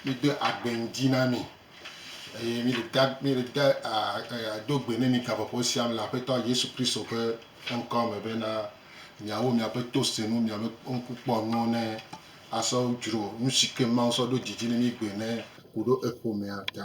Míede agbe ŋdi na mi, eye míele da, míele da a, e, do gbe ne mi gaƒoƒo sia me le Aƒetɔ Yesu Kristo ƒe ŋkɔ me bena, miawo miaƒe tosenu, miaƒe ŋkukpɔnuwo ne asɔ dzro nu si ke Mawu sɔ ɖo dzi dzi ne mi gbɔe ne ku ɖo eƒomea ta.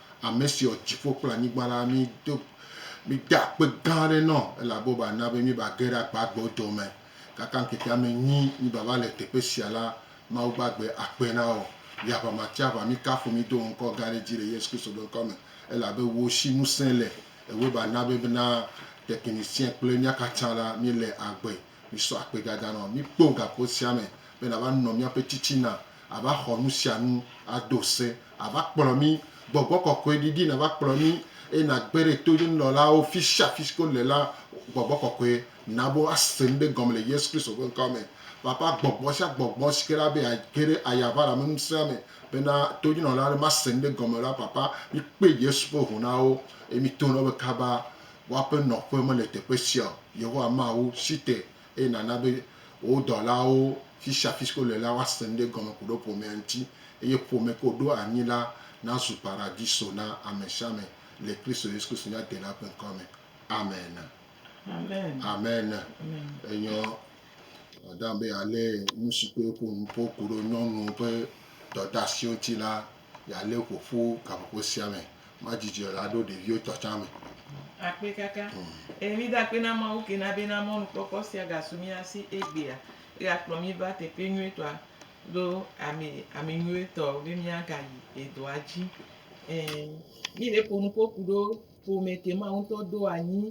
Ame si wɔ dziƒo kple anyigba la, mído, míde akpe gã aɖe nɔ elabe wòva na be míeva ge ɖe agbagbewo dome. Gake ŋkeke ame enyi mívava le teƒe sia la, Mawu gbagbe akpe na wò. Le aʋa ma tsi aʋa, míkafu mído wò ŋkɔ gã ɖe dzi le Yesu Kristo ƒe ŋkɔ me, elabe wò si ŋusẽ le, ewɔe va na be na teƒe nisiɛ kple mía katã la, míele agbe. Misɔ akpedada nɔ mí kpɔ gaƒo sia me be nava nɔ míaƒe titina, ava xɔ nu sia nu ado se, ava kplɔ mí. Gbɔgbɔ kɔkɔe ɖiɖi nava kplɔ mí eye nàgbe ɖe to nunɔlawo fi sia fi si ke wole la. Gbɔgbɔ kɔkɔe na be woase nu ɖe gɔme le Yesu Kristo ƒe ŋkɔ me. Papa, gbɔgbɔ sia gbɔgbɔ si ke na be age ɖe ayaʋalameŋusẽa me bena tonunɔla aɖe mase nu ɖe gɔme o la, Papa, mikpe Yesu ƒe ŋu na wo eye mito na wo be kaba. Woaƒe nɔƒe mele teƒe sia o. Yehowa ma wo si te eye nàna be wò dɔlawo fi sia fi si ke wole la woase nu ɖe egɔme ku ɖe ƒomea ŋuti eye ƒome ke wòɖo anyi la nazu paradiso na ame sia ame le Kristo Yesu Kristo mía Delã ƒe ŋkɔa me. Amen. Amen. Enyo. Madame be yealé nu si ke ƒo nu ƒo ku ɖe nyɔnuwo ƒe dɔdeasiwo ŋuti la. Yealé wò ƒo ƒu gaƒoƒo sia me. Madzi dzi la ɖo ɖeviwo tɔ tsã me. Akpe kaka. Eye mída akpe na Mawu ke na bena mɔnukpɔkpɔ sia gasu mía si egbea. Egakplɔ mí va teƒe nyuitɔa kple ame, ame nyuitɔ be míagayi edɔa dzi. Ɛɛ, míle ƒo nu ƒo ku ɖo ƒome ke Mawu ŋutɔ do anyi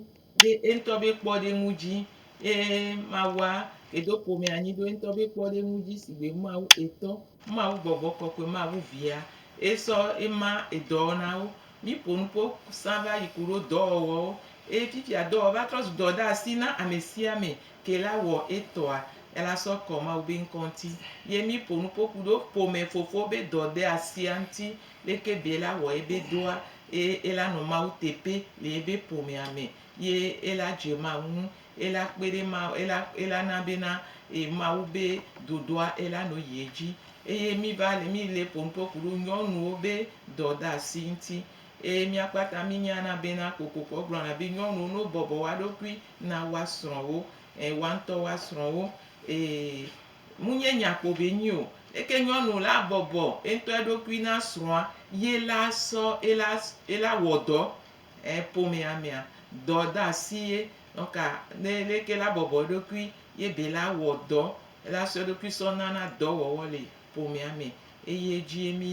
ɖe eŋutɔ be kpɔɖeŋu dzi. Eye Mawua ke do ƒome anyi ɖo eŋutɔ be kpɔɖeŋu dzi sigbe Mawu etɔ. Ema wu gbɔgbɔ kɔkɔe ma wu via e sɔ ema edɔɔ na wo. Mi ƒo nu ƒo sã va yi ku ɖo dɔwɔwɔ wo. Eye fifia dɔwɔwɔ va trɔ zu dɔ ɖe asi na amesiame ke la wɔ etɔa ela sɔ kɔ Mawu be ŋkɔ ŋuti. Ye mi ƒo nu ƒo ku ɖo ƒome fofo be dɔ ɖe asia ŋuti leke be ela wɔ ebe dɔa eye ela nɔ Mawu teƒe le ebe ƒomea me ye ela dze Mawu ŋu Ela kpe ɖe ma, ela, ela na be na e, Mawu be ɖoɖoa ela no yi edzi. Eye mi va le, mi le ƒonu ƒe ku ɖo nyɔnuwo be dɔdasi ŋuti. Eye mía kpata mi nya na be na kokoko egblɔ na be nyɔnuwo no bɔbɔ woa ɖokui na woa srɔ̃wo, e, woa ŋutɔ woa srɔ̃wo, e, mu nye nya kpo be nyi o. Eke nyɔnu la bɔbɔ eŋutɔ eɖokui na srɔ̃a, ye la sɔ, ela, ela wɔ dɔ. E ƒomea mea, dɔ dasi ye ɔka ne leke la bɔbɔ eɖokui ye be la wɔ dɔ la sɔ eɖokui sɔ nana dɔ wɔwɔ le ƒomea me eye edzie mi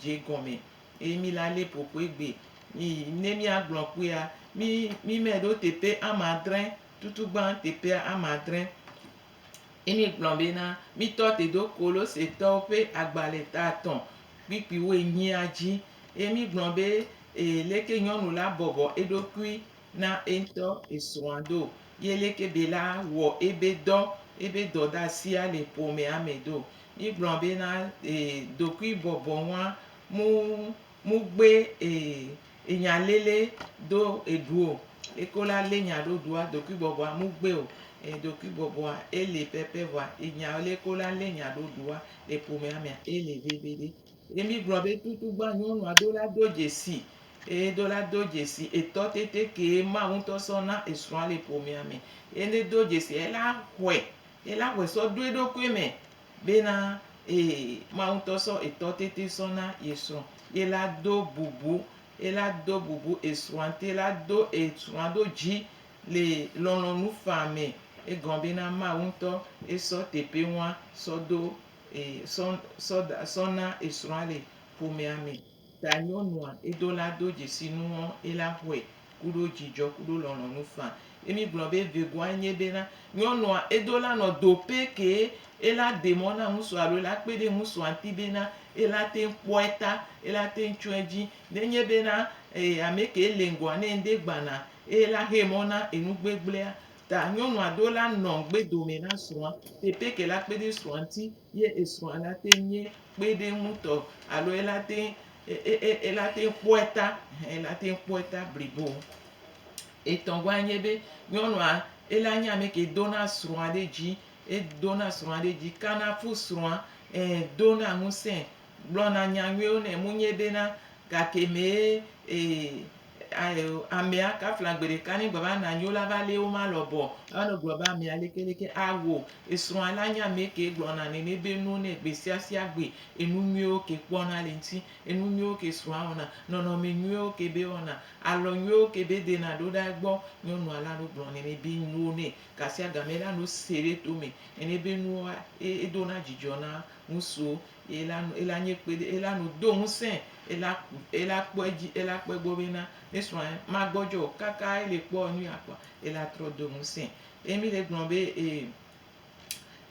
dze gɔme eye mi la le ƒoƒoe gbe. Mi ne mia gblɔ kpuia, mi mi me ɖo teƒe amadre tutu gbã teƒea amadre. Ye míegblɔ bena, Mítɔ te do Kolosetɔwo ƒe agbalẽ ta etɔ̃ kpuikpuiwo enyia dzi. Ye míegblɔ be, Ee, leke nyɔnu la bɔbɔ eɖokui na eŋutɔ esrɔ̃a do? Ye leke be la wɔ ebe dɔ, ebe dɔdeasia le ƒomea me do? Míegblɔ bena, Ee, dokuibɔbɔnua mu, mugbe, ee, Enya lele do eɖuo, eko la le nya ɖo ɖua dokui bɔbɔa mu gbeo, e dokui bɔbɔa ele pɛpɛ vɔa enya le ko la le nya ɖo ɖua le ƒomea mea ele veviɖe. Ye mi gblɔ be tutu gbã nyɔnua do la do dzesi e do la do dzesi etɔ tete kee Mawu ŋtɔ sɔ na esrɔ̃a le ƒomea me. Ye ne do dzesia ela xɔe ela xɔe sɔ ɖo eɖokui me bena, Ee, Mawu ŋutɔ sɔ etɔ tete sɔ na ye srɔ̃, ye la do bubu, ye la do bubu esrɔ̃a ŋuti, ye la do esrɔ̃a ɖo dzi le lɔlɔ̃nu faa me. Egɔme bena Mawu ŋutɔ ye sɔ teƒe ŋua sɔ do e sɔ sɔ da sɔ na esrɔ̃a le ƒomea me. Ta nyɔnua edo la do dzesi nuɔ ela xɔe kuɖo djidjɔ kuɖo lɔlɔnu fã. Ye mi gblɔ be vegoa enye be na nyɔnua edo la nɔ do pɛ kee ela de mɔ na ŋusua alo ela kpe ɖe ŋusua ŋti be na ela teŋ kpɔɛ ta ela teŋ tsɔɛ dji. Ne nye be na ee amɛkɛ ele ŋgɔa ne ŋɖe gbana eye ela xe mɔ na enu gbegblea ta nyɔnua do la nɔ ŋgbe dome na srɔa teƒe ke la kpe ɖe srɔa ŋti ye esrɔa la teŋ nye kpe ɖe eŋu tɔ alo ela te ela te kpɔe ta ela te kpɔe ta blibo. Etɔ̃gɔa nye be nyɔnua ela nye ame ke dona srɔ̃a ɖe dzi edona srɔ̃a ɖe dzi kana fu srɔ̃a e dona ŋusẽ gblɔna nya nyuiwo nɛ munye bena gake mee e Amea ka fla gbe ɖeka ne gbe va na nyo la va lé wo ma lɔ bɔ. Ame gblɔ be amea leke leke awo esrɔ̃a la nye amee ke gblɔ na ne ne be no ne gbe sia sia gbe enu nyuiwo ke kpɔ na le ŋuti. Enu nyuiwo ke srɔ̃a wɔna, nɔnɔme nyuiwo ke be wɔna, alɔ nyuiwo ke be dena ɖo ɖa egbɔ. Nyɔnua la no gblɔ ne ne be no ne gasia game la no se ɖe to me ne ne be nua edona dzidzɔ na ŋusuwo. Ela nu, ela nye kpe ɖe, ela nu do ŋusẽ, ela ku, ela kpɔ edzi, ela kpɔ egbɔ be na mesrɔ̃a magbɔdzɔ o. Kaka ele kpɔ enu ya kpɔa, ela trɔ do ŋusẽ. Ye mi le gblɔ be e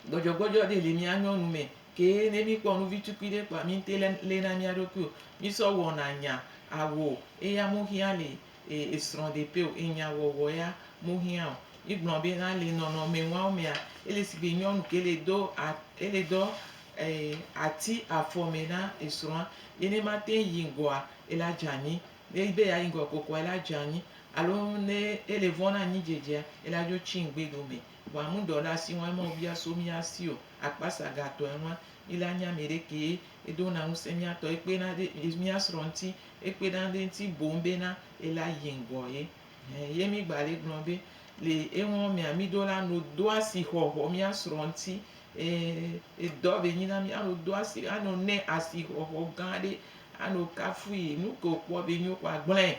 gbɔdzɔgbɔdzɔ ɖe le mía nyɔnu me ke ne mi kpɔ nu vi tukui ɖe kpɔa mi ŋte le na mía ɖokui o. Mi sɔ wɔna nya awo eya mo hiã le esrɔ̃ ɖe ƒe o. Enya wɔwɔ ya mo hiã o. Mi gblɔ be na le nɔnɔme nua wo mea, ele sigbe nyɔnu ke le do a, ele dɔ Eye ati afɔ mɛ na esrɔ̃a, ye ne mate ŋu yi ŋgɔa, ela dze anyi. Ne edi be yeayi ŋgɔ kokoa, ela dze anyi. Alo ne ele vɔ̃ na anyidzedzea, ela dzo tsi ŋugbedo me. Vɔa mudɔla si wɔe ma wòbia so mía si o. Akpasa gatɔe ŋua, mí la nya mɛ ɖe kee. Edona ŋusẽ mía tɔ. Ekpena ɖe mía srɔ̃ ŋuti. Ekpena ɖe eŋuti boŋ bena ela yi ŋgɔ ye. Ɛ̃, ye mí gba le gblɔ be le eŋɔ mea, mí ɖo la no do asixɔxɔ mía srɔ̃ ŋuti. E, edɔ be nyi na mi ano do asi, ano ne asi xɔxɔ gã ɖe, ano kafu yi, nu ke wòkpɔ be nyo kpɔ agblẽ,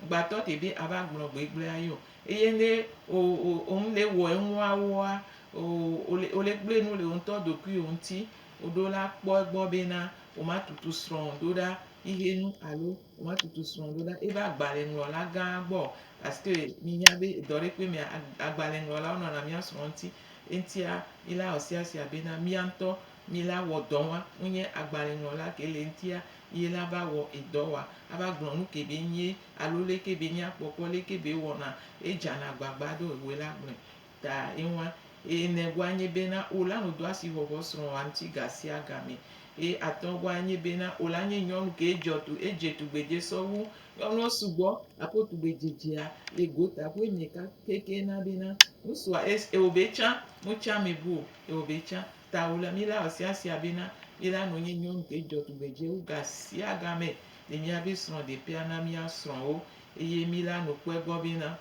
gbatɔ te be ava gblɔ gbe gblẽ ayi o. Eye ne o, o, o ŋu le wɔ enuawoa, o, o le, o le gblẽ nu le wò ŋutɔ ɖokuiwò ŋuti, o ɖo la kpɔ egbɔ be na wò ma tutu srɔ̃wò ɖo ɖa xixe nu alo wò ma tutu srɔ̃wò ɖo ɖa eva agbalẽŋlɔla gã gbɔ o. Parce que mi nya be edɔ ɖe kpɔe mea, agbalẽŋlɔlawo nɔna mía srɔ̃ ŋuti. Eŋtia, mila ɔsiasia bena mía ŋutɔ mila wɔ dɔ wa. Wonye agbalẽŋlɔla ke le eŋtia ye la va wɔ edɔ wa. Ava gblɔ nu ke be nyee alo le ke be mía kpɔkpɔ le ke be wɔna ye dzana agbagba ɖo ewoe la gblɔe ta ye wa. Eye ne gua nye bena wo la no do asi xɔxɔ srɔ̃ wa ŋuti ga sia ga me. Eye atɔ gua nye bena wo la nye nyɔnu ke djɔ tu edje tugbedje sɔwu Nyɔnuwo sugbɔ aƒo tugbedzedzea le gota ƒoe nye ka keke na be na ŋusua es eo be tsã mo tsã me bu o eo be tsã ta o la mi la ɔsia sia be na mi la no nye nyɔnu ke dzɔ tugbedze wu ga sia ga me le mia be srɔ̃ de pea na mia srɔ̃ wo eye mi la no kpɔe gbɔ be na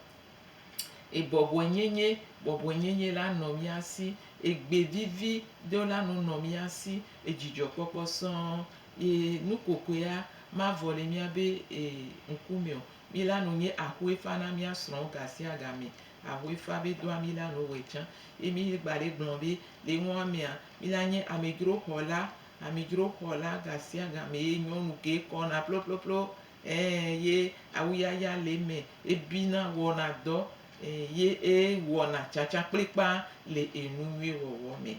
e bɔbɔe nye nye bɔbɔe nye nye la nɔ mia si egbe vivi do la no nɔ mia si edzidzɔ kpɔkpɔ sɔɔ Yi nu kokoea mavɔ le mía be e ŋku me o. Mi la nu nye ahue fa na mía srɔ̃wo ga sia ga me. Ahue fa be doa mi la nu wɔe tsã. Ye mi gba le gblɔ be le ŋua mea, mi la nye amedzro xɔla, amedzro xɔla ga sia ga me ye nyɔnu ke kɔna ploploplo, ẽ, ye awuyaya le eme, e bina, wɔna dɔ, ẽ, ye e wɔna tsatsa kplikpaa le e nu nyuie wɔwɔ me.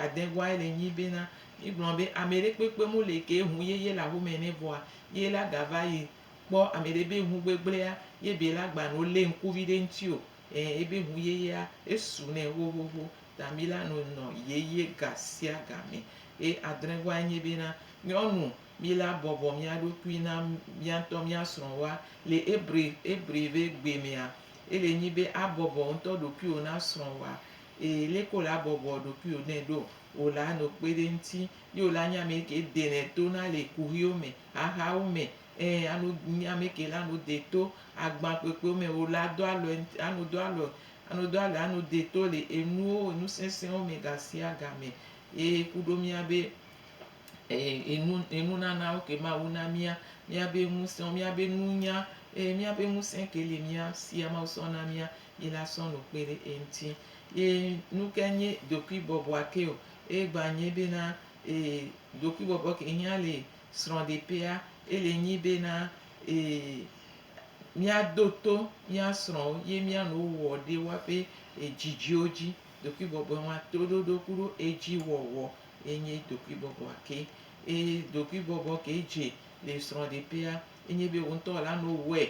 adegua ele nyi bena mi gblɔ be ame ɖe kpekpe mu le ke ŋu yeye le aƒe me ne vɔa ye la ga va yi kpɔ ame ɖe be ŋu gbegblea ye be la gba no le ŋku vi ɖe ŋti o e ebe ŋu yeyea esu nɛ xoxoxo ta mi la no nɔ yeye ga sia ga me ye adregua enye bena nyɔnu mi la bɔbɔ mia ɖokui na mia ŋtɔ mia srɔ woa le ebre ebre be gbe mea ele nyi be a bɔbɔ ŋtɔ ɖokuiwo na srɔ woa Eye leke wòle abɔbɔ ɖokuiwò nɛ ɖo? Wòle ano kpe ɖe eŋuti, ye wòle anya ame ke denɛ to na le kuxiwo me, xaxawo me, ẽ, ano nya ame ke le ano dee to, agbã kpekpewo me, wòle ado alɔe ŋuti, ano do alɔe, ano do alɔe, ano dee to le enuwo, enu sesẽwo me gasiagame. Ye ku ɖo mía be, e, enu, enunanawo ke Mawu na mía, mía be ŋusẽwo, mía be nunya, e, mía be ŋusẽ ke li mía sia Mawu sɔ na mía, yi la sɔ nu kpe ɖe eŋti. Yi nu ke nyi ɖokui bɔbɔa ke o, eye gba nyi be na e ɖokui bɔbɔ ke hiã le srɔɖeƒea ele nyi be na e mía do to mía srɔwo ye mía nu wo wɔ ɖe woa ƒe edzidziwo dzi. Ɖokui bɔbɔe ma toɖoɖo kuɖo edzi wɔwɔ ye nyi ɖokui bɔbɔa ke. Eye ɖokui bɔbɔ ke dze le srɔɖeƒea enyi be wo ŋutɔ la nu wɔe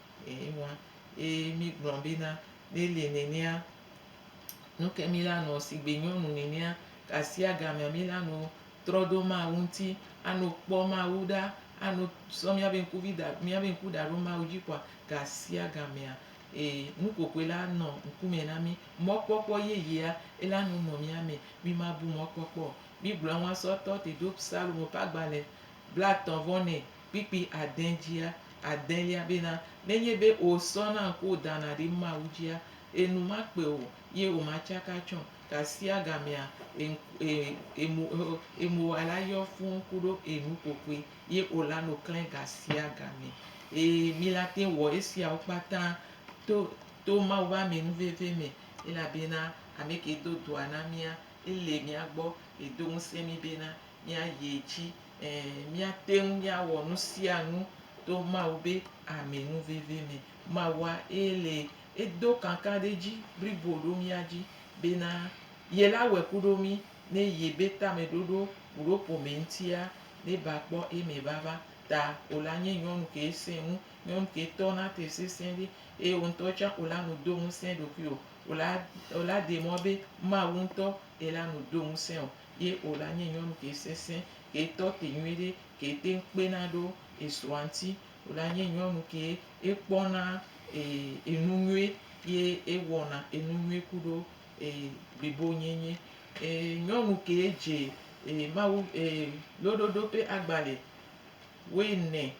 Eye wa, eye mi gblɔ be na, ne le nenea, nu ke mi la nɔ sigbe nyɔnu nenea, gasia gamea mi la no trɔ ɖo Mawu ŋuti, ano kpɔ Mawu ɖa, ano sɔ miabe ŋkuvi da, miabe ŋku da ɖo Mawu dzi kpɔa, gasia gamea, e, nu kɔkɔe la anɔ ŋkume na mi. Mɔkpɔkpɔ yeyea, ela no nɔ mia me. Mi ma bu mɔkpɔkpɔ o. Mi gblɔ ŋua sɔ tɔ te ɖo Psalmo ƒe agbalẽ. blaetɔ̃ vɔ nɛ kpikpi ade dzia, adelia bena, Nenye be wò sɔ na ŋku wò dana ɖi Mawu dzia, e nu ma kpe o, ye wò ma tsaka tsɔ, gasia gamea e e e mo e e mo wa la yɔ fũu ku ɖo e nu kpokpoe, ye wò la no klẽ gasia game. Ee, mi la te wɔ esiawo kpata to to Mawu be ame nu veve me, elabena ameke do dɔa na mia, ele mia gbɔ, edo ŋusẽ mi bena, míayi edzi, ɛ̃, míate ŋu míawɔ nu sia nu to Mawu be amenuvevi me. Mawua ye le edo kakaɖedzi blibo ɖo mía dzi bena ye la wɔe ku ɖo mí ne ye be tameɖoɖo kuɖo ƒome ŋutia ne ba kpɔ eme vava ta o la nye nyɔnu ke sẽ ŋu, nyɔnu ke tɔ na te sesẽ ɖi eye wò ŋutɔ tsã o la nu do ŋusẽ ɖokuiwò o la, o la ɖe mɔ be Mawu ŋutɔ ye la nu do ŋusẽ wò. ye o la nye nyɔnu ke sese, ke tɔ te nyuiɖe, ke teŋ kpena ɖo esrɔ̃a ŋuti. O la nye nyɔnu ke ekpɔna enu nyui ye ewɔna enu nyui kuɖo blibonyenye. Nyɔnu ke dze Mawu loɖoɖo ƒe agbalẽ wuiene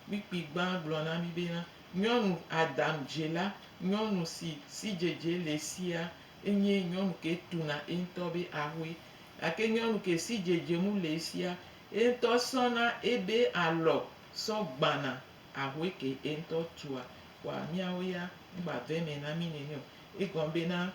kpukpui gbã gblɔ na mí bena, Nyɔnu Adam dzela, nyɔnu si sidzedze le sia, enye nyɔnu ke tuna eŋutɔ be ahoe. Gake nyɔnu ke si dzedzemu le esia, eŋutɔ sɔna ebe alɔ sɔ gbana ahoe ke eŋutɔ tua. Kpɔa míawo ya megba ve eme na mí nene o. Egɔme bena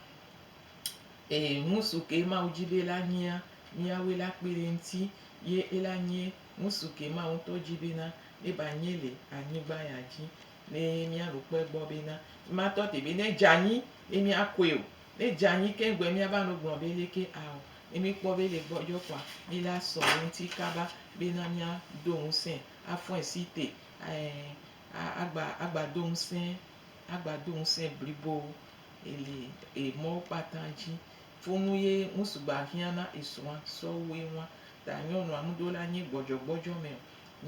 ee ŋusu ke Mawu dzi be la nyia, míawoe la kpe ɖe eŋuti ye ela nye ŋusu ke Mawu ŋutɔ dzi bena neva nye le anyigba ya dzi. Ne míaɖo kpe egbɔ bena, Mema tɔ te be ne edze anyi be míakɔe o. Ne edze anyi keŋ gbɔe míava no gblɔ be leke ao. Ne míkpɔ be ele gbɔ dzɔ kpɔa, míle asɔ ɖe eŋuti kaba bena míado ŋusẽe, afɔe si te ɛɛ agba agba do ŋusẽ agba do ŋusẽ blibo le emɔwo kpata dzi. Fonu ye ŋu sugbɔ ahiã na esrɔ̃a sɔwu eŋua. Ta nyɔnua ŋuɖo la nye gbɔdzɔgbɔdzɔ me o.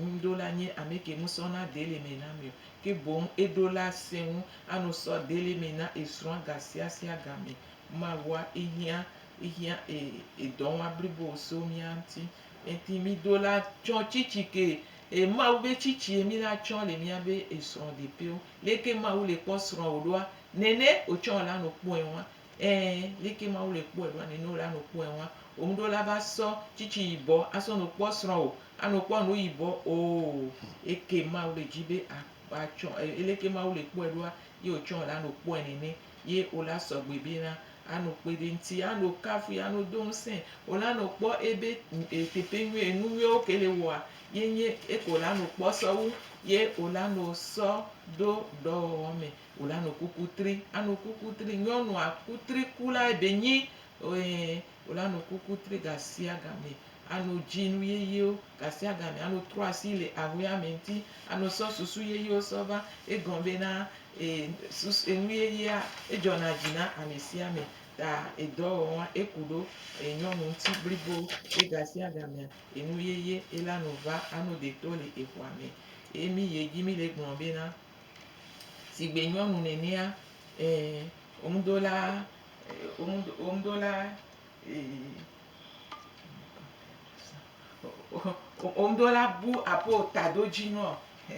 Ŋuɖola nye amɛke musɔ na deli mɛ na mɛ o, ke boŋ eɖola sɛnŋu ano sɔ deli mɛ na esrɔa gasiasia gamɛ. Mawua ehiã ehiã e edɔnwa blibo so mia ŋti enti mido la tsɔ tsitsi ke e Mawu be tsitsie mi la tsɔ le miabe esrɔ ɖepewo. Leke Mawu le kpɔ srɔwo ɖoa? Nɛnɛ otsɔ la no kpɔɛwa Ẽ, leke Mawu le kpɔe ɖoa? Nene wòle anɔ kpɔe hã. Wò ŋɖewo la va sɔ tsitsi yibɔ asɔ nɔ kpɔ srɔ̃wò, anɔ kpɔ ŋɖewo yibɔ oo. Eke Mawu le dzi be a atsɔ e leke Mawu le kpɔe ɖoa? Ye wòtsɔ wòle anɔ kpɔe nene. Ye wòle asɔ gbe be na anɔ kpɔe ɖe ŋti, anɔ kafui, anɔ do ŋsẽ. Wòle anɔ kpɔ ebe e teƒe nyuie, enu nyuiwo ke le wɔa, ye nye eke wòle anɔ kpɔ sɔwu. Ye wòle anɔ sɔ ɖo dɔwɔwɔ me. Wò la no kuku tri, ano kuku tri, nyɔnua ku tri ku la ebe nyi, ɔɛ, wò la no kuku tri gasiagamɛ, ano dzi nu yeyewo gasiagamɛ, ano trɔ asi le ahueame ŋuti, ano sɔ susu yeyewo sɔ va. Egɔme be na, e, susu, enu yeyea, edzɔna dzi na amesiame, ta edɔwɔwɔa, eku ɖo e, nyɔnu ŋuti blibo, ye gasiagamea, enu yeye ye la no va, ano deto le ehuame. Ye mi yi edzi mi le gblɔ be na, Sigbe nyɔnu nenea, ee, womeɖo la, womeɖo la, ee, womeɖo la bu aƒewo taɖodzinuɔ,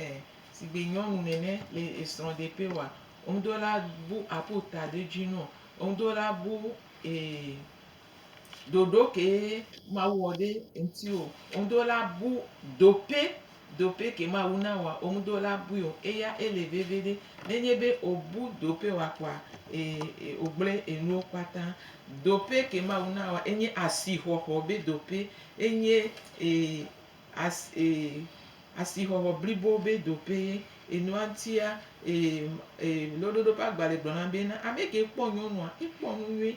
ee, sigbe nyɔnu nene le esrɔ̃ɖeƒe oa, womeɖo la bu aƒewo taɖodzinuɔ, womeɖo la bu, ee. ɖoɖo kee Mawu wɔ ɖe eŋuti o. Womeɖo la bu dope, dope ke Mawu na wòa, womeɖo la bui o. Eya ele veviɖe. Nenye be wobu dope wòa kɔa, ee, wogblẽ enuwo kpata. Dope ke Mawu na wòa, enye asixɔxɔ be dope. Enye, ee, as, ee, asixɔxɔ blibo be dope ye. Enua ŋutia, ee, ee, Loɖoɖo ƒe agbalẽ gblɔna be, na ameke kpɔ nyɔnua, ekpɔ nu nyui.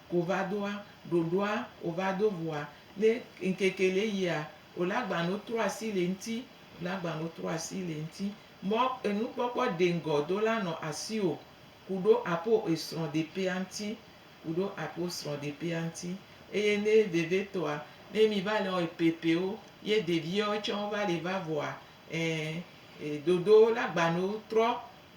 Kovadoa, ɖoɖoa, ovado vɔa, ne ŋkeke le yia, olagbano trɔ asi le eŋti, olagbano trɔ asi le eŋti. Mɔ enukpɔkpɔ deŋgɔ do la nɔ asiwò kuɖo apo esrɔ̃ ɖepea ŋti, kuɖo apo srɔ̃ ɖepea ŋti. Eye ne vevetɔa, ne mi va le wɔ epepewo, ye ɖeviɛwo tsɛ wova le va vɔa, ɛ, e, ɖoɖo olagbano trɔ,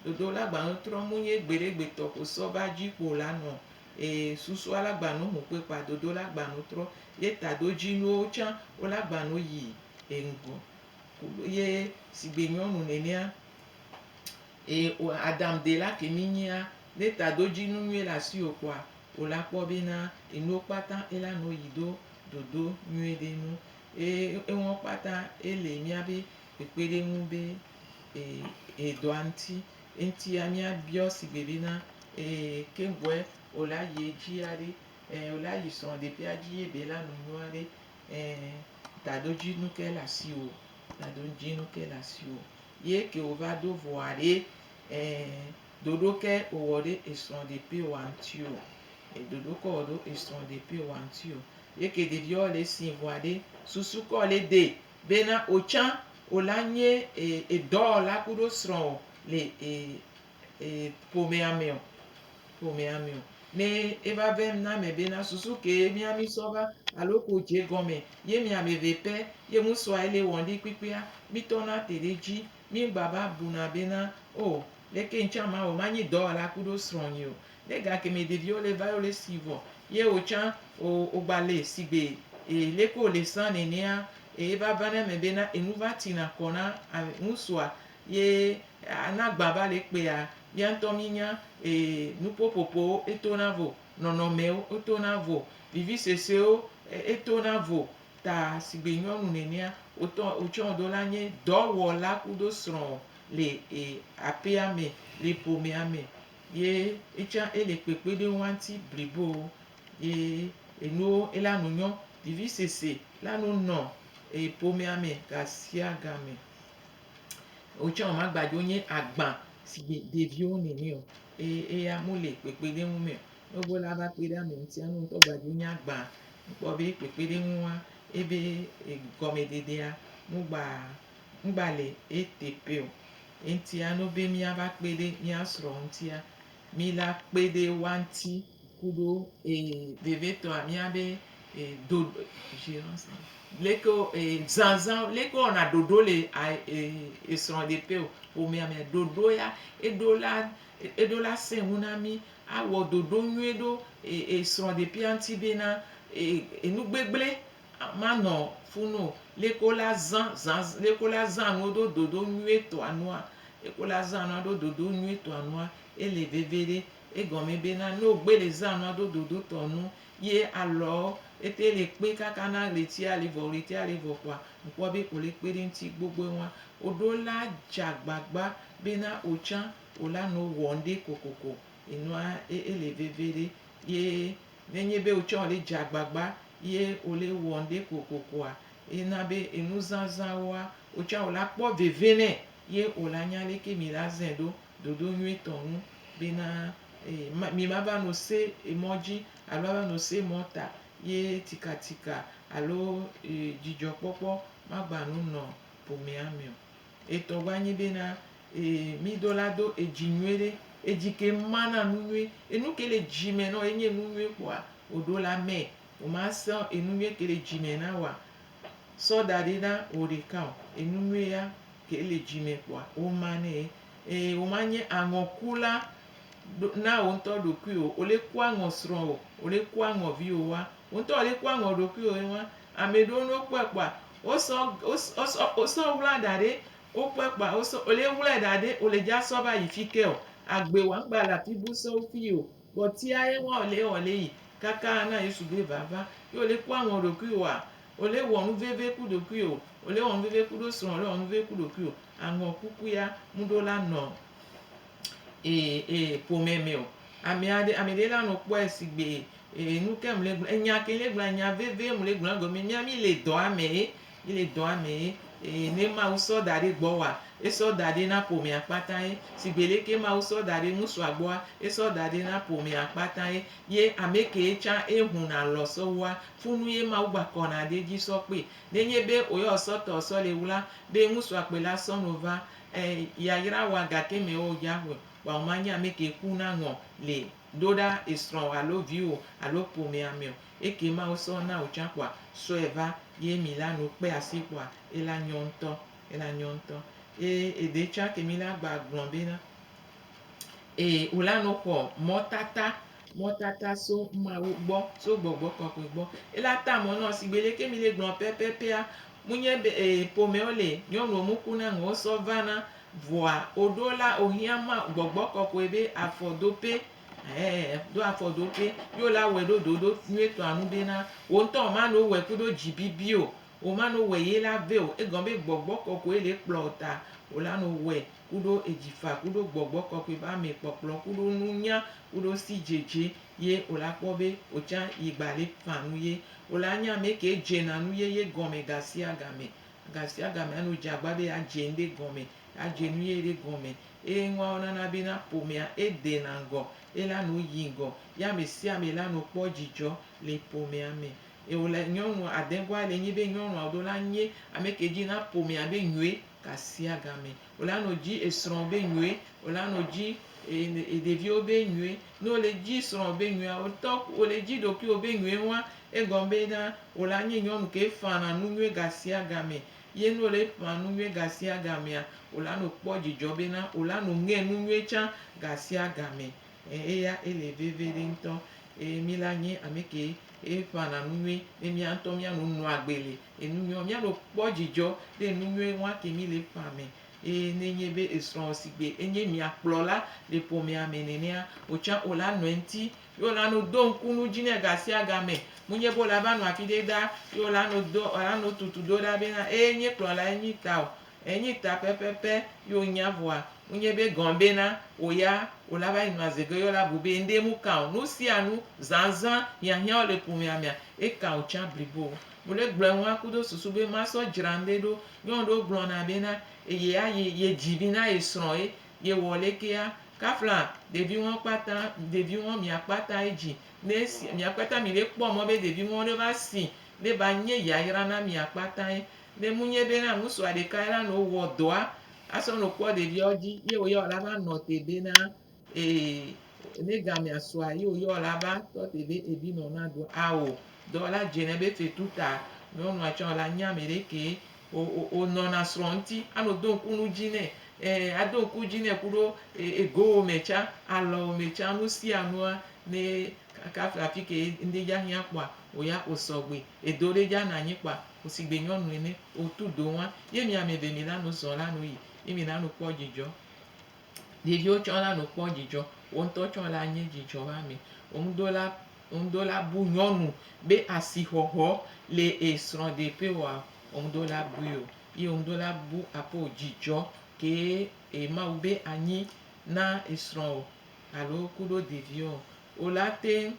ɖoɖo olagbano trɔ mu nyi gbeɖegbetɔ ko sɔ va dzi kpo la nɔ Eye susua la gba no hũkpe kpa dodo la gba no trɔ ye tado dzi nuwo tsã wo la gba no yi e ŋgɔ kuɖo ye sigbe nyɔnu nenea eye o Adam de la ke mi nyia ne tado dzi nu nyuie le asiwo kpɔa o la kpɔ be na enuwo kpata e la no yi ɖo dodo nyuie ɖe nu eye enuwo kpata e le mia be kpekpeɖeŋu be e e dɔa ŋti Eŋtia míabiɔ sigbe be na ee keŋgbɔɛ o la yi edzi aɖe ee o la yi srɔ̃ ɖeƒea dzi ye be la nu nyuie aɖe ee taɖo dzi nu ke le asi o taɖo dzi nu ke le asi o ye ke o va do vɔ aɖe ee ɖoɖo ke o wɔ ɖe esrɔ̃ ɖeƒe wa ŋuti o e ɖoɖo ke wɔ ɖo esrɔ̃ ɖeƒe wa ŋuti o ye ke ɖeviɔ le si vɔ aɖe susu kɔ le de Bena otsã ola nyé e dɔwɔla kuɖo srɔ̃wɔ le e e ƒomea mɛ ɔ? Ƒomea mɛ ɔ? Nɛ e va vem na mɛ bena susu ke mia mi sɔ va alo ke o je gɔnmɛ ye mi amɛve pɛ ye ŋu sɔa ele wɔn ɖi kpikpia, mi tɔ na te ɖe dji. Mi ŋgba va buna bena, O, leke ŋtsã ma wɔ ma nyi dɔwɔla kuɖo srɔ̃ nyi o? Ɖe ga kemɛ ɖeviwo le va yole si vɔ ye wo can o ogba le sigbe e leke wo le san nenea e eva vana eme be na enu va tina kɔ na ŋusua ye a na gba va le kpea mía ŋutɔ mí nya e nupopopowo e tona vo nɔnɔmɛwo o tona vo vivi sɔsɔewo e tona vo ta sigbe nyɔnu nenea wo tɔ wo can wo do la nye dɔ wɔ la kudo srɔ le e apea me le ƒomea me ye etsɔa ele kpekpe ɖe woa ŋuti blibo ye enuwo ela nu nyɔ. Vivisese la nu nɔ ƒomea me gasiagame. Wotsɔ wɔ magbaɖewo nye agba si dzi ɖeviwo nene o eye eya mele kpekpeɖeŋu me o. Ne wòva la va kpe ɖe ame ŋuti ne ŋutɔ gbaɖewo nye agba kpɔ be kpekpeɖeŋua ebe gɔmeɖeɖea wogba. ŋgba le eteƒe o. Eŋutia no be míava kpe ɖe mía srɔ̃ ŋutia, mí la kpe ɖe woa ŋuti kuɖo ee vevitɔa mía be ee do leke wo ee zazã leke wowɔna ɖoɖo le a ee esrɔ̃ɖeƒe o ƒomea me ɖoɖo ya eɖo la eɖo la sẽ ŋu na mí awɔ ɖoɖo nyui ɖo ee esrɔ̃ɖeƒea ŋuti be na ee enugbegblẽ. Manɔ fu no leke la zã zã leke la zã nuwo ɖo dodo nyuie tɔa nua leke la zã nua ɖo dodo nyuie tɔa nua ele veve ɖe egɔme be na ne wogbe le zã nua ɖo dodo tɔ nu ye alɔ ete le kpe kaka na ɣletia le vɔ ɣletia le vɔ kɔa ŋkpɔ be ole kpe ɖe ŋti gbogboe ŋua oɖo la dza gbagba be na otsã ola nɔ wɔ ŋɖe kokoko enua ele veve ɖe ye. Ne nye be wotsɔ le dze agbagba ye wole wɔ ŋɖe kokokoa, ena be enu zazã woa, wotsɔ wo la kpɔ veve nɛ ye wo la nya leke mi la zɛ ɖo ɖoɖo nyuie tɔ ŋu be na e mi ma va no se emɔ dzi alo ava no se emɔ ta ye tikatika alo e dzidzɔ kpɔkpɔ ma gba nu nɔ ƒomea me o. Etɔ gba nyi be na ee mi do la do edzi nyuie ɖe. Edzi ke ma na nu nyuie. Enu ke le dzi me nɔ enye enu nyuie kpoa wo ɖo la me. Wo ma sɔ enu nyuie ke le dzi me na woa sɔ da ɖe na wo ɖeka o. Enu nyuie ya ke le dzi me kpoa wo ma ne ye. Ee wo ma nye aŋɔ ku la na wo ŋutɔ ɖokui o. Wo le ku aŋɔ srɔ wo, wo le ku aŋɔ viwo wa. Wo ŋutɔ wo le ku aŋɔ ɖokui wo ye wa. Ameɖewo ne wo kpɔe kpoa. Wosɔ wosɔ wosɔ wosɔ wla ɖa ɖe wokpɔe kpoa wosɔ wole wlae ɖa ɖe wole dza sɔ va yi fike o agbe wa ŋgba le afi bu sɔ wo fi o vɔ tia ye wa wole wole yi kaka ana Yesu be va va ye wole kpɔ aŋɔ ɖokui oa wole wɔ nu veve ku ɖokui o wole wɔ nu veve ku ɖo srɔ̃ wole wɔ nu veve ku ɖokui o aŋɔ kuku ya mu ɖo la nɔ e e ƒome me o amea ɖe ame ɖe la nɔ kpɔe sigbe Ee, nu ke mle gblɔ, enya ke mle gblɔ, enya vevie mle gblɔ egɔme. Mía mí le dɔa me ye, mí le dɔa me ye. Ee, ne Mawu sɔ da ɖe gbɔwòa, esɔ da ɖɛ na ƒomea kpata ye. Sigbe le ke Mawu sɔ da ɖe ŋutsua gbɔa, esɔ da ɖɛ na ƒomea kpata ye. Ye ame kee tsã eŋu nalɔ̃ sɔ wua, funu ye Mawu gba kɔna ɖe edzi sɔ kpee. Nenye be wòyɔ esɔ tɔ sɔ le wla be ŋutsua kpɔe la sɔ no va, e, yayra wa gake mewɔ o dzaxɔe o. Vɔa womanye ame ke kuna ŋɔ le Do ɖa esrɔ̃wò alo viwò alo ƒomea me o. Eke ma wosɔ na wò tsã kpɔa, sɔe va ye mi la nu kpe asi kpɔa, ela nyɔ ŋutɔ, ela nyɔ ŋutɔ. Eye ede tsã ke mi la gba gblɔ bena, Ee, wò la no xɔ mɔtata. Mɔtata so Mawu gbɔ, so Gbɔgbɔ Kɔkɔe gbɔ. Ela ta mɔ nɔ sigbe leke mi le gblɔ pɛpɛpɛa, mu nye be, Ee, ƒomewo le, nyɔnuwo mu ku na ŋɔ wosɔ va na Vɔa oɖo la ohiã ma gbɔgbɔ kɔkɔe be afɔ do pɛ. Ɛɛ, do afɔ do pɛ. Yo la wɛ ɖo ɖoɖo nyuie tɔa nu be na wo ŋtɔ ma no wɛ kudo dzi bibi o. O ma no wɛ ye la vɛ o. Egɔ be gbɔgbɔ kɔkɔe le kplɔ o ta o la no wɛ kudo edzi fa kudo gbɔgbɔ kɔkɔe ba me kpɔkplɔ kudo nu nya kudo si djedje ye o la kpɔ be o tsa yi gba le fa nu ye. O la nya amɛ ke djena nu ye ye gɔmɛ gasia game. Gasiagame anɔ dze agba be yeadze nuɖe gɔme, yeadze nu ʋe ɖe gɔme. Eye nuawo nana be na ƒomea edena ŋgɔ, ela nɔ yi ŋgɔ, ye ame sia ame la nɔ kpɔ dzidzɔ le ƒomea me. Ye wòle nyɔnu adegɔa le nyi be nyɔnuawo do la nye ame ke dzi na ƒomea be nyɔe gasiagame Wòla nɔ dzi esrɔ̃ be nyuie, wòla nɔ dzi ɖeviwo be nyuie. Ne wòle edzi srɔ̃ be nyuie, wotɔ wòle edzi ɖokuiwò be nyuie hɔ̃a, egɔme be na wòla nye nyɔnu ke ƒãna nu nyuie gasiagame. Ye ne wòle eƒã nu nyuie gasiagamea, wòla nɔ kpɔ dzidzɔ be na wòla nɔ ŋe nu nyuie tsã gasiagame. Ɛɛ, eya ele veviɖe ŋutɔ. Eye mí la nyi ame ke eƒãna nu nyuie. Ne míawo ŋutɔ míanɔ nɔagbe le Enu nyɔ, míanɔ kpɔ dzidzɔ ɖe enu nyɔe ŋwa ke mí le ƒea me. Eye ne enye be esrɔ̃wò sigbe enye mia kplɔla le ƒomea me nenea, wò tsã wò la nɔ eŋti. Ye wò la nɔ do ŋku nu dzi nɛ gasiagame. Menye be wò la va nɔ afi ɖe ɖaa ye wò la nɔ do, wò la nɔ tutu do ɖa be na eye nye kplɔla ye nyi ta o. Enyi ta pɛpɛpɛ ye wò nya vɔa, menye be gɔ̃ be na wò ya wò la va yi nɔ aze ge ye wò la bu be ŋɖe mu kã o. Nu sia nu, zãzã, hiahiãwo le ƒomea mea, ekã wò tsã blibo. Wole gblɔe ŋua kudo susu be masɔ dzra ŋɖe ɖo. Nyɔnu ɖewo gblɔna bena eye ayi ye dzi vi na ye srɔ̃ ye ye wɔ lekea. Kafla ɖevi ŋɔ kpata ɖevi ŋɔ mia kpata ye dzi ne esi mia kpata mi ɖe kpɔ mɔ be ɖevi ŋɔ ɖe va si ne va nye yayra na mia kpata ye. Ne mu nye bena ŋusua ɖeka ye la no wɔ dɔa asɔ no kpɔ ɖeviawo dzi ye wo ya wo la va nɔ te bena Eye ne gamea sua yi wòyɔ la va tɔ te be ebi nɔ na do ao dɔ la dze ne be fetu ta nyɔnua tsɔ la nya me ɖe ke o o o nɔ na srɔ̃ ŋuti ano do ŋku nu dzi nɛ e ado ŋku dzi nɛ kuɖo e egowo me tsa alɔwo me tsa nu sia nua ne kaka fia fi ke ŋde dza hiã kpɔa o ya o sɔgbe edo ɖe dza na nyi kpɔa o si gbe nyɔnu ene o tu do ŋua ye mi ame ve mi la nu zɔ̃ la nu yi ye mi la nu kpɔ dzidzɔ. Ɖeviwo tsɔ la no kpɔ dzidzɔ, wò ŋutɔ tsɔ la nye dzidzɔ be ame. Ŋudola, ŋudola bu nyɔnu be asixɔxɔ le ye srɔ̃ɖeƒe oa, ŋudola bui o. Ye ŋudola bu aƒe o dzidzɔ kee Mawu be anyi na esrɔ̃ o alo kuɖo ɖeviwo o. o la te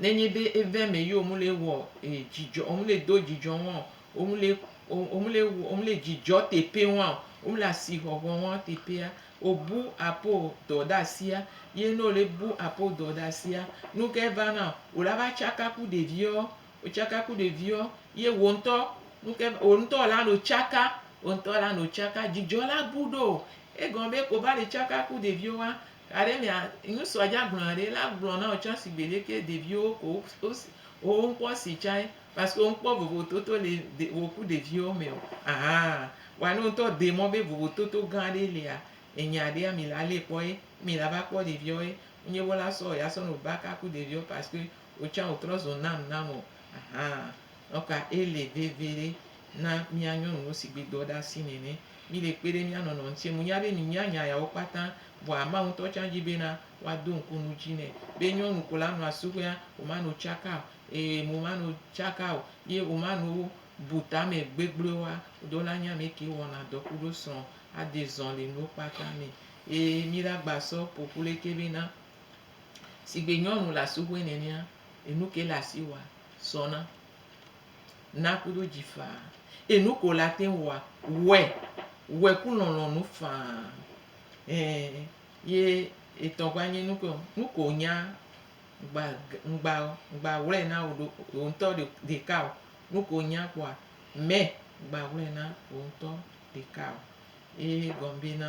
nenye be eve me yio mu le wɔ e dzidzɔ o mu le do dzidzɔ ŋɔ o mu le o mu le o mu le dzidzɔ teƒe ŋɔ o mu le asi hɔhɔ ŋɔ teƒea o bu apo dɔ ɖe asia ye no le bu apo dɔ ɖe asia nu ke va na o la va tsaka ku ɖeviɔ o tsaka ku ɖeviɔ ye wo ŋutɔ nu ke o ŋutɔ la no tsaka o ŋutɔ la no tsaka dzidzɔ la bu ɖo egɔme be ko va le tsaka ku ɖeviwo wa. Gaɖe mia ŋusua dza gblɔna ɖe la gblɔ na wò tsã sigbe ɖeke ɖeviwo ko wò ŋkpɔ si tsã parce que wò ŋkpɔ vovototo le wò ku ɖeviwo me o ahan vɔa ne wò ŋutɔ de mɔ be vovototo gã ɖe lia enya ɖea mi la le kpɔ ye mi la va kpɔ ɖeviwo ye nye wo la sɔ ya sɔ nɔ baka ku ɖeviwo parce que wò tsã wò trɔ zo nam nam o ahan donc ele vevi ɖe na mia nyɔnuwo sigbe dɔ ɖe asi nene Míɖe kpe ɖe mía nɔnɔ ŋuti. Menya be mìnya nya yawo kpata, vɔa Mawu ŋutɔ tsã di bena woado ŋku nu dzi nɛ. Be nyɔnu ko la nɔa suxuea, womano tsaka o, ɛɛ, womano tsaka o, ye womano bu tame gbegblɔewoa, ɖo la nye ame ke wɔna dɔ kuɖo srɔ̃ ade zɔn le nuwo kpata me. Ye míla gba sɔ ƒoƒu le ke bena, sigbe nyɔnu le asuxue nenea, enu ke le asi woa, sɔna. Na ku ɖo dzi faa. Eye nuke wòle ate ŋu wɔa, wɔe. Wɔe ku lɔlɔ̃nu faa. Ẽ, ye etɔ gba nye nuke o, nuke wònya ŋgba, ŋgba, ŋgba ŋwlɛ na wò ɖo, wò ŋutɔ ɖeka o. Nuke wònya kpɔa, mɛ ŋgba ŋwlɛ na wò ŋutɔ ɖeka o. Ye gɔme be na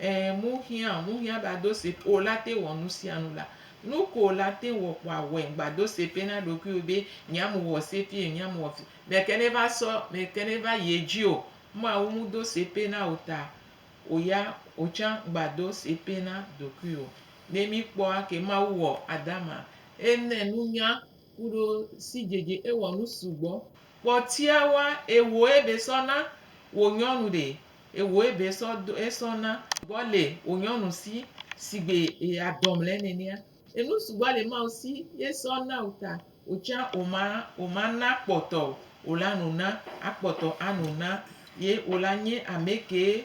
Ẽ, mu hiã, mu hiã be ado se pe o la te wɔ nu sia nu la. Nu ko o la te wɔ kpoa wɔe gba do se pe na ɖokuiwò be nya mu wɔ se pie nya mu wɔ fi me ke ne va sɔ me ke ne va yi edzi o. Mawu mu do se pe na o ta o ya o tsã gba do se pe na ɖokuiwò. Ne mi kpɔa ke Mawu wɔ Adama, e ne nunya Kuɖo sidzedze ewɔ nu sugbɔ. Kpɔtia wa ewo ebe sɔ na wo nyɔnu ɖe ewo ebe sɔ do esɔ na gbɔ le wo nyɔnu si sigbe eya dɔm le nɛnɛa. Enu sugbɔ le Mawu si ye sɔ na wo ta wo tsa wo ma wo ma na kpɔtɔ wo la nu na akpɔtɔ anu na ye wo la nye amekee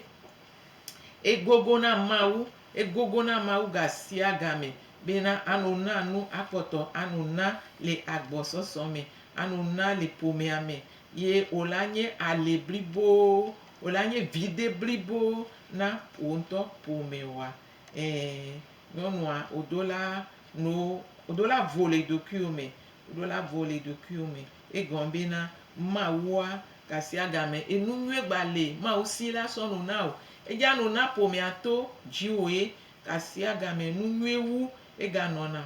Egogo na Mawu, egogo na Mawu gasiagame bena ano na nu akpɔtɔ, ano na le agbɔsɔsɔ me, ano na le ƒomea me, ye wòle anye ali blibo, wòle anye viɖe blibo na wò ŋutɔ ƒomewoa. Ẽ, nyɔnua, wòdola no, wòdola vo le ɖokuiwò me, wòdola vo le ɖokuiwò me. Egɔme be na Mawua gasiagame enunyuie gba le Mawu si la sɔ nu na o. Edzea nu na ƒomea to dziwòe gasiagame enunyuie wu eganɔna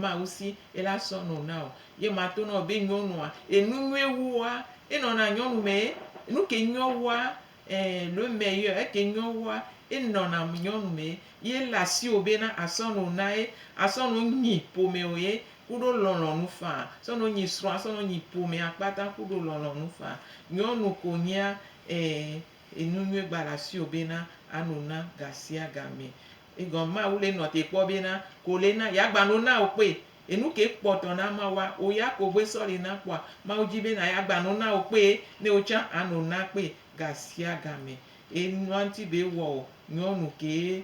Mawu si ela sɔ nu na o. Ye ma to na wò be nyɔnua enunyuie wua enɔna nyɔnu mee. Nuke nyɔ wua Ẽ, ɖo mɛ yɔɛ eke nyɔ woa, é nɔn am nyɔnu mɛ, yi é le asiwo bé na a sɔn o na ye, a sɔn o nyi pomɛ o ye, kuɖo lɔnlɔnu faa, sɔn o nyi srɔn, a sɔn o nyi pomɛ a kpata kuɖo lɔnlɔnu faa. Nyɔnu ko nyia, ẽ, enu nyuie gba le asiwo bé na a no na gasiagamɛ. Egɔn Mawu lé nɔn té kpɔ bé na, ko lé na ya gba no na o kpé Enu ke kpɔ tɔ na Mawu a? Wò ya ko vɔe sɔli na kpɔa? Mawu di be na ya gba no na wò kpe ne wò tsan a no na kpe gasiagame. E nua ŋti be wɔ o nyɔnu ke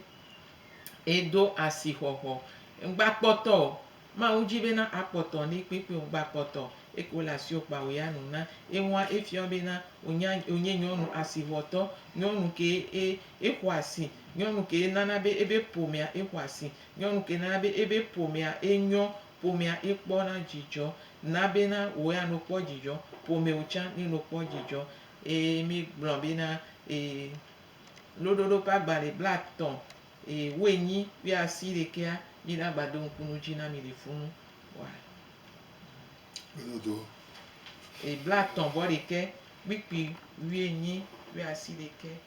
e do asi xɔxɔ. Ŋgba kpɔtɔ o. Mawu di be na a kpɔtɔ ne kpekpe o. Ŋgba kpɔtɔ o. Eko le asi o kpa wò ya no na. Eŋua e fiɔ be na wò nya wò nye nyɔnu asi xɔtɔ. Nyɔnu ke e e xɔ asi. Nyɔnu ke e nana be ebe ƒomea e xɔ asi. Nyɔnu ke na be ebe ƒomea enyɔ, ƒomea ekpɔ na dzidzɔ, na be na wò ya no kpɔ dzidzɔ, ƒomewo tsã ne no kpɔ dzidzɔ. Eye mi gblɔ be na eye loɖoɖo ƒe agbalẽ blatɔ eye wo enyi kple asi ɖekea, mi na gba do ŋku nu dzi na mi le funu wa. Loɖoɖo. Eye blatɔ vɔ ɖekɛ kpikpi wu enyi kple asi ɖekɛ.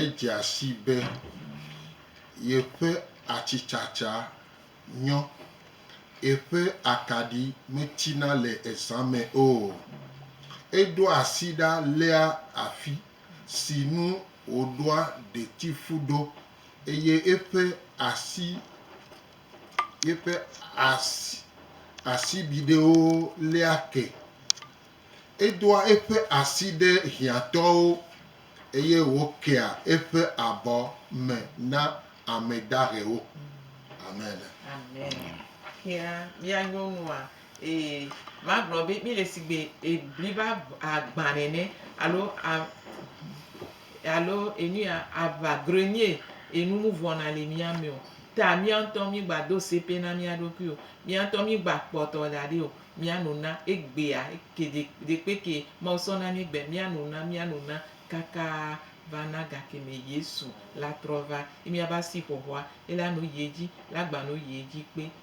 Edzea sii be yeƒe atsitsatsa nyɔ, yeƒe akaɖi metina le ezã me o. Eɖo asi ɖa léa afi si nu wòɖoa ɖetifu ɖo eye eƒe asi. Yeƒe asi asibidɛwo léa ke. Edoa eƒe asi ɖe hiãtɔwo eye wòkea eƒe abɔ me na ame dahewo. Amen. Amen. Hiã mía nyɔnua Ee, magblɔ be míele sigbe bliba agbã nene alo a, alo enuya aʋa grenier enu nu vɔna le mía me o. Ta mía ŋutɔ mígba do sepe na mía ɖokui o. Mía ŋutɔ mígba kpɔtɔ da ɖi o. Mía no na egbea ke ɖe ɖekpe ke Mawu sɔ na mí gbea mía no na mía no na kaka va na ga ke me Yesu la trɔ va. Ye mía va si xɔxɔa ela no yi edzi la gba no yi edzi kpe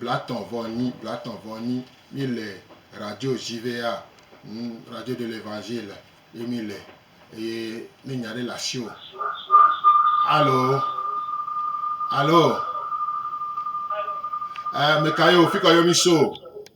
Blatɔn vɔ nyi blatɔn vɔ nyi mi le radio ʒivea nu radio de l'evangile ye mi le eye ne nya ɖe le asiwo. Alo alo e meka ye o fikɔ ye mi so.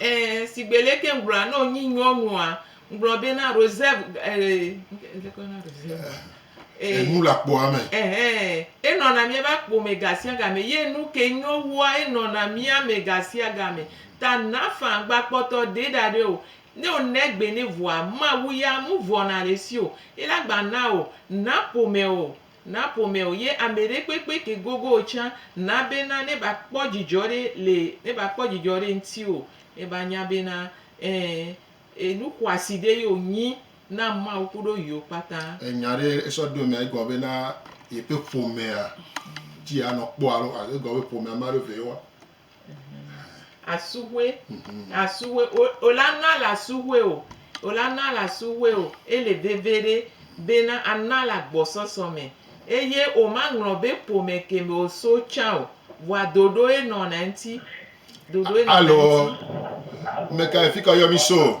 Eee sigbe leke ŋgblɔa ne wonyi nyɔnua, ŋgblɔ be na Rosève ee leke woyɔna Rosève ma? Ee Enu le akpoa me. Ɛhɛɛ, enɔna míaƒe akpo me gasiagame ye nuke nyo wua, enɔna mía me gasiagame. Ta Nafan gbakpɔtɔ ɖee ɖaɖɛ o. Ne wòna egbe nɛ vɔa, Mawu ya mevɔ̃na le esi o. Ye la gbana wò, naƒomɛ o, Na ƒomɛ o ye ameɖe kpekpe ke gogo o tsã na be na ne ba kpɔ dzidzɔ ɖe le ne ba kpɔ dzidzɔ ɖe ŋti o ne ba nya be na ẽ e nu xɔasi ɖe ye o nyi na Mawu kuɖo yio kpata. Enya ɖe esɔ ɖo mea egɔme be na yeƒe ƒomea dzi a nɔ kpɔ alo egɔme be ƒomea ma ɖo vɛ ye wa Asuhue, asuhue, o la na la suhue o, o la na la suhue o, ele veve ɖe bena a na la gbɔsɔsɔ me, eye o ma ŋlɔ be ƒome ke me o so tsã o, vɔa ɖoɖoe nɔna eŋti, ɖoɖoe nɔna eŋti. Alo, mekae fika yɔ mi so?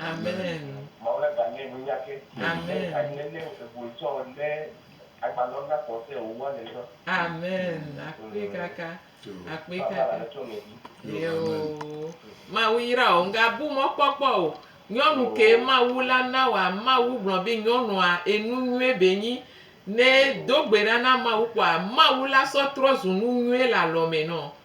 Amen. Mawu la da nɛ nunya ke. Amen. Ke anyi nene evoe tsɔ lé agbalɔ na kpɔ se o wa nenɔ. Amen. Akpe kaka. Akpe Papa la kaka. le tsɔ mɛ di. Yeo. Mawu yra o. Nga bu mɔ kpɔkpɔ o. Nyɔnu ke Mawu la na wa. Mawu gblɔ be nyɔnua enu nyuie be nyi. Ne do gbe ɖa na Mawu kpɔa Mawu la sɔ trɔ zu nu nyuie le alɔ mɛ nɔ.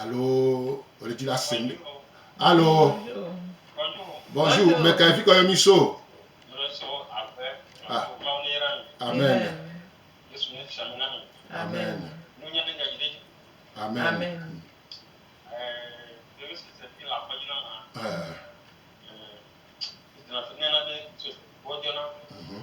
Alo wòle dzi la sem. Alo bonjour, mɛ kae fi kɔ yɔ mi so? Ah. Amen. Amen. Amen. Amen. Eh, mhm.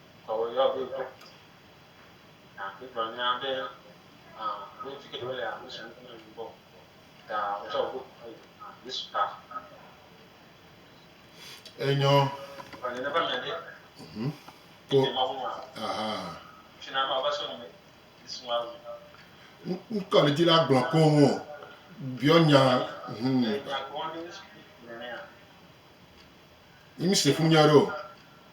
Enyɔ. Mhm. Kpɔ. Aha. Ŋkɔ le dzi la gblɔ koŋ o. Biɔ nya. Hmm. Yimi se fu nya ɖo.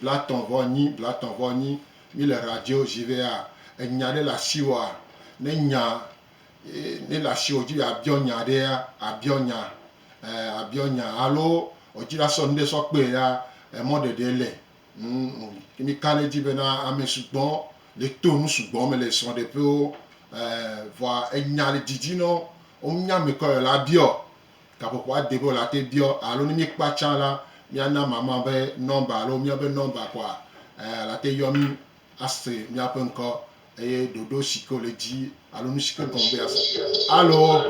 Blatɔ̃ vɔ nyi, blatɔ̃ vɔ nyi. Mí le radio ʒi be a enya ɖe le ashiwoa, ne nya e ne le ashiwo dzi be a biɔ nya ɖea, a biɔ nya e a biɔ nya alo wo dzi la sɔ nuɖe sɔ kpe ɖea, emɔ ɖeɖe le. Ŋ ke mí ka ɖe edzi be na amɛ sugbɔ le to nu sugbɔ me le srɔɖeƒewo e vɔa enya le didi nɔ wo. Wo nya mɛ kɔ yɔ la biɔ. gaƒoƒoa dede wò la te biɔ alo ne míekpɔa tsã la, míana mama ƒe nɔmba alo míaƒe nɔmba kɔa, eh, la te yɔ mí ase míaƒe ŋkɔ eye ɖoɖo si ke wòle dzi alo nu si ke gɔme be yease. Alo.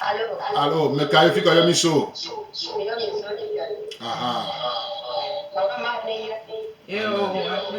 Alo. Alo. Ame kae fi ka yɔ mí so? Yɔ mí so Italy. Aha. Mama ma ne yɔ mí. Eo, akpe.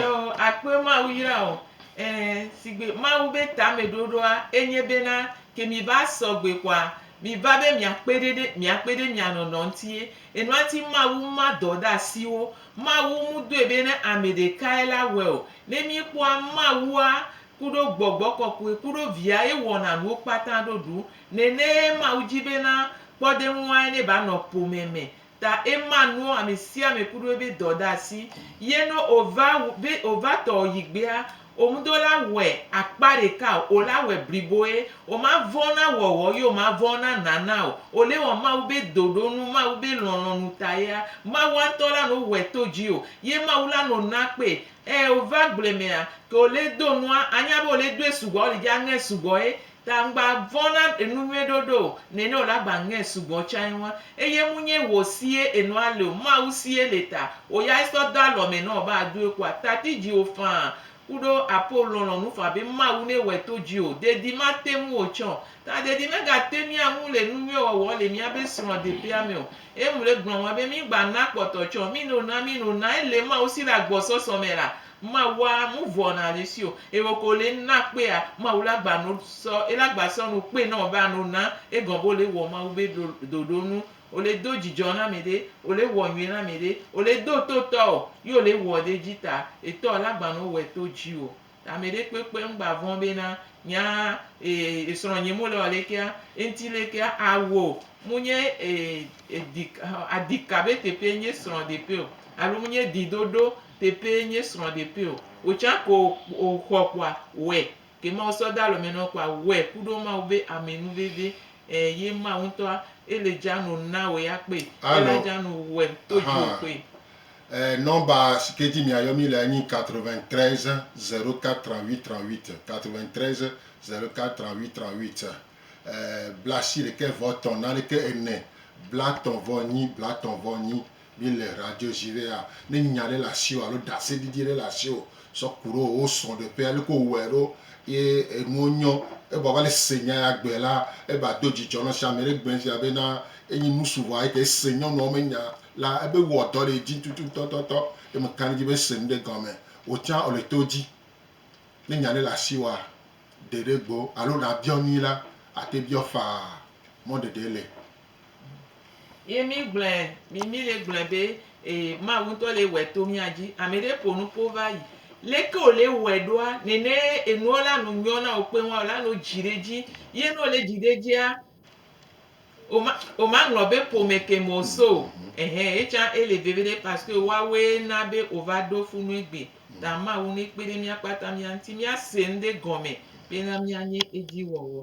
Yoo, akpɔe Mawu yra o. Ɛɛ, sigbe Mawu be tameɖoɖoa enye bena, ke miva sɔgbe kɔa, miva be miakpe ɖe ɖe, miakpe ɖe mia nɔnɔ ŋutie. Enua ŋuti Mawu ma dɔ ɖe asi wo. Mawu mu dɔe be ne ame ɖekae la wɔe o. Ne míkpɔa, Mawua kuɖo Gbɔgbɔ Kɔkɔe kuɖo Via ye wɔna nuwo kpata ɖoɖu. Nenee Mawu dzi bena kpɔɖeŋuae ne ba nɔ ƒome me. Ta ema nuɔ amesiame kuɖo ebe dɔ ɖe asi, ye no ova wu be ova tɔ yigbea, omudo la wɔe akpa ɖeka o, ola wɔe bliboe, oma vɔn na wɔwɔ ye oma vɔn na nana o, ole wɔ Mawu be doɖo nu, Mawu be lɔlɔnu tayea, Mawua ŋtɔ la no wɔe to dji o, ye Mawu la no na kpe. Ɛ ova agble mea, ke ole do nua, anya be ole doe sugbɔa, ole dja ŋɛ sugbɔe, Ta ŋgba vɔ̃ na enu nyuie ɖoɖo o, nɛnɛ o la gba ŋɛ sugbɔ tsain ŋua. Eye mu nyɛ wò sie enɔ a le o, Mawu sie le ta o ya e sɔ do alɔ mɛ nɔ o be a doe ku a tati jiwo faa kuɖo apo lɔnlɔn nu faa be Mawu nɛ wɛ to ji o. Dedi ma te ŋu o tsɛ o. Ta dedi mɛ ga te mia ŋu le enu nyuie wɔwɔ le mia be srɔ̃ deƒea mɛ o. Eye mu le gblɔ ŋua be mi ŋgba na kpɔtɔ tsɛ o. Mi nɛ o na, mi nɛ o na ele Mawu si le agbɔsɔsɔ mɛ la, Mawu a mu vɔ na le si o. E wo ko le na kpe a Mawu la gba no sɔ e la gba sɔ no kpe nɔ ba no na e gɔn bo le wɔ Mawu be ɖo ɖoɖo nu. O le do jijɔ na mɛ ɖe, o le wɔ nyuie na mɛ ɖe, o le do to tɔ o, yi o le wɔ ɖe ji ta e tɔ la gba no wɛ to ji o. Ta mɛ ɖe kpekpe ŋ gba vɔn be na nya e esrɔ nye mo le wɔ le kea e ŋti le kea a wo mu nye e e di adika be teƒe nye srɔ ɖeƒe o alo mu nye di ɖoɖo Tepee nye srɔ̃ ɖepee o wòtsã ko o xɔ kpoa wɛ ke Mawu sɔ de alɔme nɔn kpoa wɛ kuɖo Mawu be amɛ nu veve e ye Mawu ŋtɔa e le dza no na wɛ ya kpe e la dza no wɛ to dzi o kpe. E nɔmba si ke dzi mia yɔ mi lea nyi 93 04 38 38 93 04 38 38 e blasi ɖekɛ vɔ tɔn naɖekɛ ene blatɔn vɔ nyi blatɔn vɔ nyi Míele radio dzi be ya ne nya aɖe le asiwò alo ɖase didi aɖe le asiwò sɔ ku ɖo wo srɔ̃ ɖeƒe aleke wo wɔe ɖo ye enuwo nyɔ ebe wòava le se nya ya gbe la ebe ado dzidzɔ nɔ sia ame ɖe gbe sia be na enyi nu su vɔ eke ese nyɔnuawo me nya la ebe wɔ dɔ ɖe edzi tutu tɔ tɔ tɔ ye me ka ɖe edzi be ese nu ɖe gɔme wò tsã wò le to edzi ne nya aɖe le asiwòa ɖe ɖe gbo alo na biɔ nui la ate biɔ faa mɔ ɖeɖe le. Ye mí gblɔɛ, mí mí le gblɔɛ be ee Mawu ŋutɔ le wɔɛ to mía dzi. Ameɖe ƒo nu ƒo va yi. Leke wo le wɔɛ ɖoa? Nene enuɔ la nu nyɔ na wo kpeŋ wa wo la nu dzi ɖe edzi. Ye ne wo le dzi ɖe edzia, wo ma wo ma ŋlɔ be ƒome ke me wo so o. Ehe etsã ele veviɖe paske woawoe na be wo va ɖo fu nu egbe. Ta Mawu ne kpe ɖe mía kpata mía ŋuti mía se ŋɖe gɔme bena mía nye edzi wɔwɔ.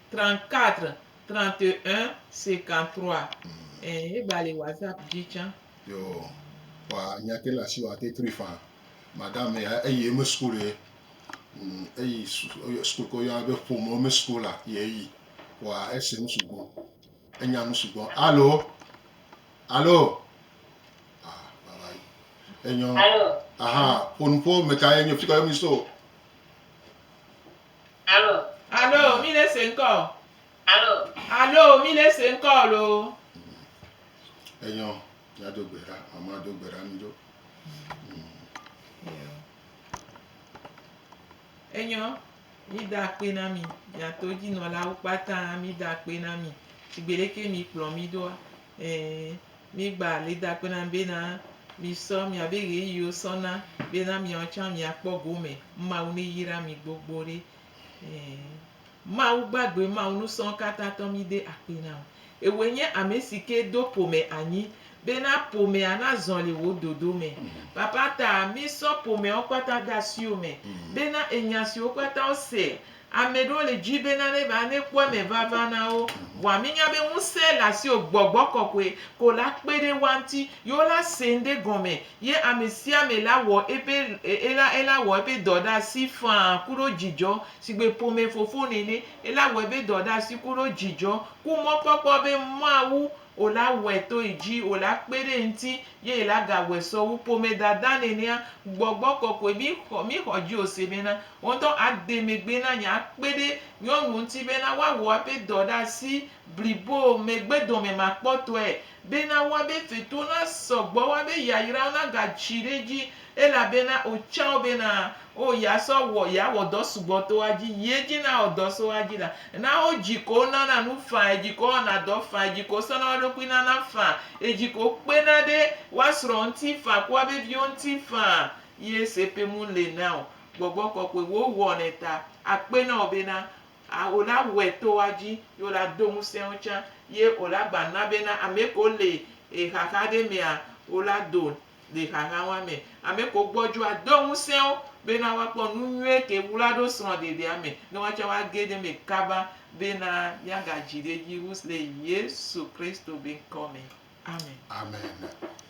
34 31 53 ɛɛ eva li whatsapp dzi tsã. Yo, kpa nya ke le asi wa te tri fã. Madam ya eyi eme school ye. Mm, eyi school ko ya be ƒome eme school la ye eyi. Wa ese nu sugbɔ. Enya nu sugbɔ. Alo. Alo. Ah, baba yi. Enyo. Alo. Aha, ƒonuƒo me ka ye nyo fika yo mi so. Alo. Alo, mi ne se ŋkɔ o. Alo. Alo, mi ne se ŋkɔ o lo. Enyɔ, ya do gbe ɖa, mama do gbe ɖa mi do. Enyɔ, mi da akpe na mi, mia to dzi nɔlawo kpata, mi da akpe na mi, tsigbe ɖeke mi kplɔ mi doa. Ẽ, mígba alidakpe na bena misɔ miabe ɣeyiɣiwo sɔ na bena miawo tsã miakpɔ gome. Mawu neyra mi gbogbo ɖe. Ẽ, Mawu gbagbe, Mawu nusɔ̃katãtɔ mide akpe na wò. Ewòe nye amesike do ƒome anyi bena ƒomea nazɔ le wò dodo me. Papa ta, mísɔ ƒomeawo kpata de asiwò me bena enya siwo kpata wose Ame ɖewo le dzi be nane va ne kpɔ eme vava na wo. Vɔa mi nya be ŋusẽ le asiwò gbɔgbɔ kɔkɔe ko la kpe ɖe woa ŋuti ye wo la se ŋɖe gɔme ye ame sia ame la wɔ eƒe ela ela wɔ eƒe dɔ ɖe asi faa kuɖo dzidzɔ sigbe ƒome fofo nene ela wɔ eƒe dɔ ɖe asi kuɖo dzidzɔ ku mɔkpɔkpɔ be Mawu O la wɔe to yi dzi, O la kpe ɖe eŋti, ye yi la gawɔe sɔ wu ƒome dada nenea. Gbɔgbɔ kɔkɔe, mi xɔ, mi xɔ dzi ose bena, Wò ŋutɔ a de megbe na nye akpe ɖe nyɔnuwo ŋti bena woa wɔ aƒe dɔ ɖe asi blibo megbe dɔme makpɔtɔe, bena woa be fetuwo na sɔ gbɔ, woa be yayrawo na ga tsi ɖe edzi, Elabena otsã wo bena, O ya sɔ wɔ, ya wɔ dɔ sugbɔ to wa dzi, yi edzi na wɔ dɔ so wa dzi la, na wo dzi ko wo nana nu fã, edzi ko wo wɔna dɔ fã, edzi ko wo sɔna wa ɖokui nana fã, edzi ko wo kpena ɖe wa srɔ̃ ŋuti fã ku wa be viwo ŋuti fã. Yi ese pe mu le na o, Gbɔgbɔ Kɔkɔe wo wɔnɛ ta akpe na wo bena, a o la wɔɛ to wa dzi, yi o la do ŋusẽ wo tsã, yi o la gba na bena amɛ ko le e xaxa ɖe mea, o la do le xaxa wa me. Ame ko gbɔdjɔ ado ŋusẽ wo bena wa kpɔ nu nyuie ke wla ɖo srɔ̃ ɖeɖea me ne wa tsɛ wa ge ɖe me kaba bena mia ga dji ɖe dji wu le Yesu Kristo be ŋkɔ me. Amen. Amen.